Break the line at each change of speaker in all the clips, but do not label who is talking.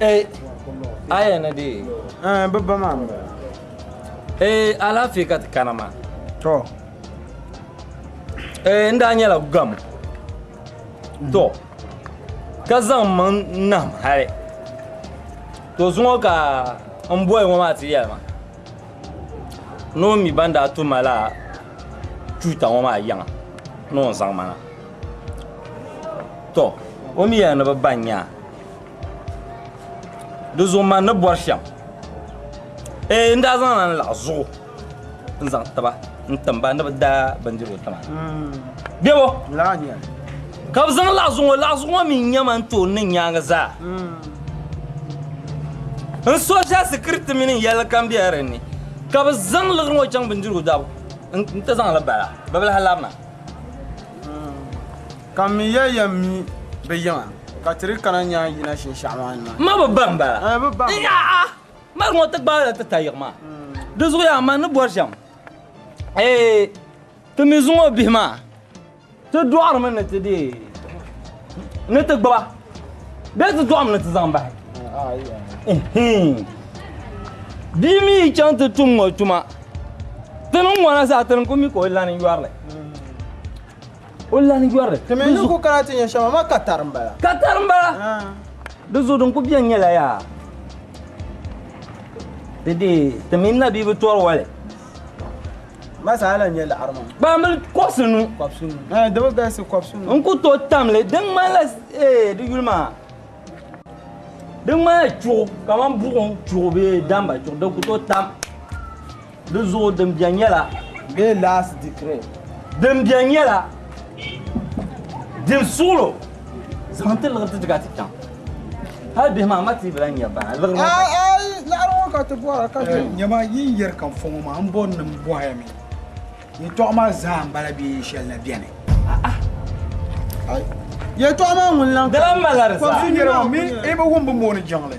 Ee, aya ni di. Ɛɛ, bi ba maa
m-bala. Ee,
alaafee ka ti kana maa. Tɔ. Ee, n daa nyɛla gamo. Tɔ, ka zaŋ m maŋ nahim hali. Tɔ zuŋɔ ka m boli ŋɔ maa ti yɛli ma ni o mi ban daa tu ma la tuuta ŋɔ maa yiŋa ni o zaŋ ma na. Tɔ, o mi yɛli ni bɛ ba n-nya a. di zuɣu man ni bɔri shɛm ee n daa zaŋ la n laɣi zuɣu n zaŋ tiba n timba ni bi daa bindirigu tima bɛbo
ka bi zaŋ
laɣi zuɣu ŋɔ laɣi zuɣu ŋɔ mi nyɛma n tooi niŋ nyaangi zaa n sɔsha sikiriti mini yɛlli kam bɛla din ni ka bi zaŋ liɣiri ŋɔ chaŋ bindirigu dabu n ti zaŋli bala bibilahi labina
Ka m mi ya yɛn mi bɛ yiŋa, ka ti di kana nyaai yina shinshɛɣu maa ni maa. Ma bi bahi
m-bala? N-nya a mali ŋɔ ti gbaai la ti ta yiɣi maa. Di zuɣuyaa man ni bɔri shɛm, ti mi zuŋɔ bihi maa, ti dɔɣirimi ni ti deei ni ti gbiba bee ti dɔɣim ni ti zaŋ bahi. Bia mi yi chaŋ ti tum ŋɔ tuma, ti ni ŋɔna zaa ti ni ku mi ka o lani yɔri li. O lahi yɔri. Ti mi ni ku kana ti
nya shɛm, amaa ka tari m-bala. Ka tari m-bala.
Di zuɣu din ku beni nyɛla yaa di deei ti mini Nabi bi tɔri wali.
Ma zaa lahi nyɛ laɣiri maa. Kpaambili kɔbisi
nu. Kɔbisi nu. Ɛ, di bi
galisi kɔbisi nu. N ku tooi tam li,
di ŋmanila ee di yuli maa. Di ŋmanila chuɣu kamani buɣim chuɣu bee damba chuɣu din ku tooi tam. Di zuɣu din bɛn nyɛla. Bee last
decree. Din bɛn
nyɛla din suɣilo zaŋ ti liɣiri ti ti ka ti chaŋ. Hal bihi maa ma ti bi lahi nya ba na liɣiri ŋɔ ka. Ai
laɣiri ŋɔ ka ti bɔhira ka ti. Nyama yi ni yɛri ka
n fɔ ŋɔ maa m bɔri ni m bɔhi ya mi yɛtɔɣa maa zaa m bala bee yini shɛli na bɛni.
Yɛtɔɣa maa ŋuni lahi. Di lahi malila di zaa. Kɔbisiri
nyɛla ŋun mi i
bi wum bi mooni jiŋli.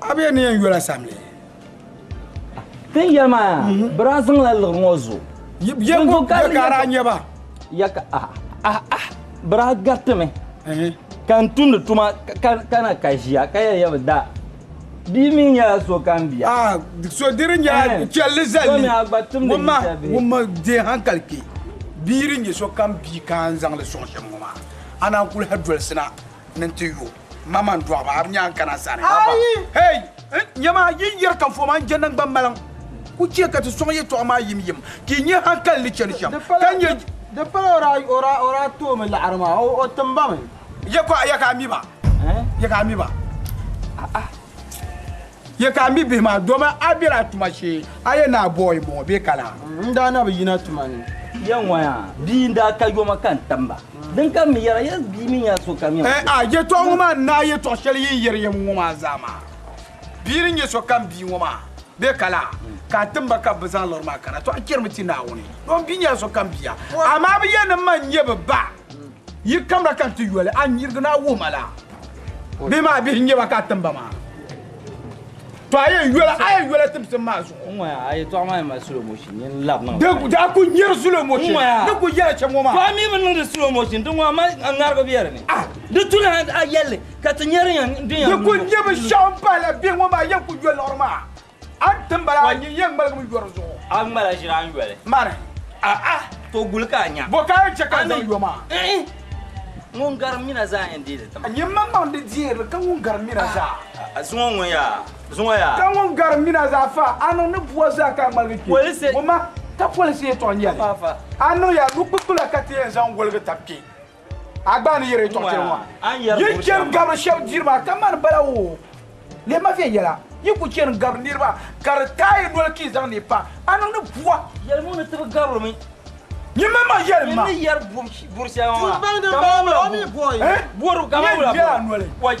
A bɛ ni yɛn yola samli.
Tin yɛli maa yaa mhm. bɛ daa zaŋla liɣiri ŋɔ zo. Yɛbo
gakaara nyɛ ba. Yaka
ah ah ah bɛ daa gariti mi. Mhm. Ka n tumdi tuma ka na ka ʒiya ka yɛli yɛbi da bia mi nyɛla so kan bia. Ah, so diri nyɛla
eh. chɛlli zali wumma wumma deei hankali kpɛ bia din nyɛ so kam bia ka n zaŋli sɔŋ shɛm ŋɔ maa a naan kuli ha dolisina ni n ti yo. Maman dɔɣiba a bi nyaan kana sani. Ayi! Hey! Nyama yi ni yɛri ka fɔma n-je naŋgban maliŋ ku chɛ ka ti sɔŋ yɛtɔɣa maa yim yim ka yi nyɛ hankali ni chani shɛm ka nyɛ. Di pala
o daa toomi laɣiri maa, o tim ba mi. Yɛka a
mi ba? Yɛka a mi ba? A'a! Ye ka a mi bihi maa, doma a bela a tuma shee, a yɛn ni a bɔɔ yi bɔŋɔ bee ka laa? N daa na bi yina
tuma ni. Ya ŋɔya,
bia n-daa ka yoma ka n tam ba. Din ka m-mi yɛra, ya bia mi nya sokam yɛm zuɣu. Aa! Yɛtɔɣ ŋɔ maa
n-naai yɛtɔɣ shɛli yi ni yɛri yɛm ŋɔ maa zaa maa. Bia ni nya sokam bia ŋɔ maa bee ka laa? Ka a tim ba ka bɛ bi zaŋ lɔri maa kana, tɔ a chɛrimi ti Naawuni. Dom bia nyɛla sokam bia, amaa bɛ yɛn ni ma n-nyɛ bɛ ba. Yi kamra ka n ti yoli a nirigu ni a wuhi ma laa? Bihi maa bihi n-nyɛ ba ka a tim ba maa? To a yɛn yoli a yɛn yoli timsim maa zuɣu. Ŋ-ŋɔya, a yɛtɔɣa maa yɛn
mali slow motion, nyin n-lab niŋ la. Di daa kul nyari slow
motion. Ŋ-ŋɔya. Ni kul yɛli chɛ ŋɔ maa. To a mi bi niŋdi slow
motion, di ŋɔ a mali a ŋarigu bɛ di ni. Ah! Di tu ni a yɛlli ka ti nya din yɛn.
Di kul nyɛ binshɛɣu m-pahi la
bihi ŋɔ
maa yɛn kul yoli
liɣiri
maa. A ni tim bala, a nyin yen ŋmaligimi yo di zuɣu. A ŋmala ʒiri a ni yoli.
Mani. A'a!
To
guli ka a nya. Bɔ ka a yɛn chɛ ka n zaŋ
yo maa? Ɛɛn!
Ŋun garim nina zaa yɛn deei di tiŋa. Nyimmaŋmaŋ di deei
li ka ŋun garim nina zaa. A zuŋɔ ŋun yaa!
Zuŋɔ yaa! Ka ŋun garim nina
zaa fa, a niŋ ni bua zaa ka a ŋmaligi kpe. Polisi! Ŋun ma,
ka polisi
yɛtɔɣa nyɛli. Faafa! A niŋ ya
nukpukpula
ka ti yɛn zaŋ woligi tab kpe. A gba ni yiri tɔɣite ŋɔ a yi chani
gabiri shɛba
diri maa ka mani bala woo leei ma viɛnyɛla yi ku chani gabiri niriba ka di taai noli ka yi zaŋ ni pa a niŋdi bua yɛli ŋɔ ni tibi gabiri
mi nyin mini ma
yɛli ma. Nyin ni yɛri buri
shɛŋa maa ka mani
wula bɔri ka mani
wula bɔri.